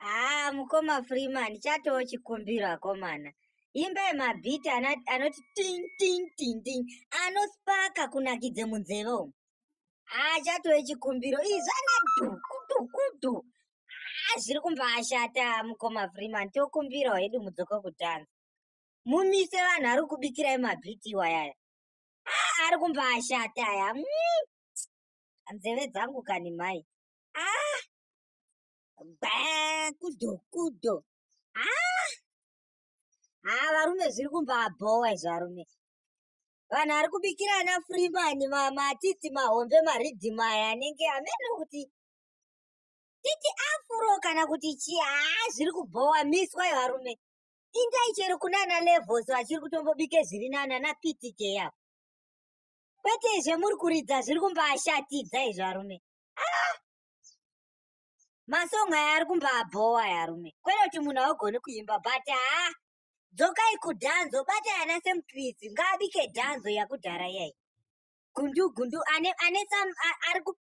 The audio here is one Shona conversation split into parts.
haa mukoma freeman chatoo chikumbiro akomana imba yemabhiti anoti ting ting ting ting anospaka kunakidze munzeve umu haa chatoo chikumbiro ii zvana dhukudukudu haa zviri kumbaashata mukoma freeman tokumbirawo hedu mudzoko kutanza mumise vanhu ari kubikirai mabhiti iwayaya haa ari kumbaashata aya mm. nzeve dzangu kani mai haa baa kudo kudo haa haa varume zviri kumbabhowa izvi varume vanhu ari kubikirana freeman matiti mahombe maridhima aya anenge amene kuti titi afuro kana kuti chii haa zviri kubhowa miswa yevarume indai chero kunana levels vachiri kutombobike zviri nana naptk yavo kwete izve muri kuridza zviri kumbashatidza izvi varume aa ah! masong aya ari kumbabhowa yarume kwete kuti munhu augoni kuimba but haa dzokai kudhanzo batai ana semkristi ngaabike dhanzo yakudhara iyai gundu gundu ane ane sam ari ku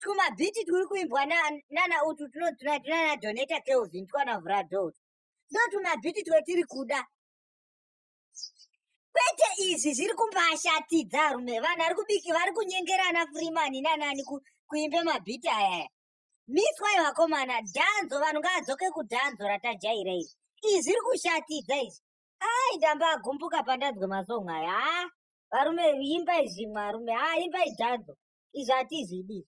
twumabhiti twuri kuimbwa nana utu tunana donata kelvin twana vradot ndo twumabhiti twetiri kuda kwete izvi zviri kumbashatidza arume vanhu ari kubiki vari kunyengerana freeman nanani kuimbe mabhiti ayaya miswai vakomana dhanzo vanhu ngaadzoke kudhanzo ratajaira izvi izvi zviri kushatidza izvi ai ndamba agumbuka pandanzwe masong aya haa varume imbai zvimwe arume haa imbai dhanzo izvi hatizvidi izvi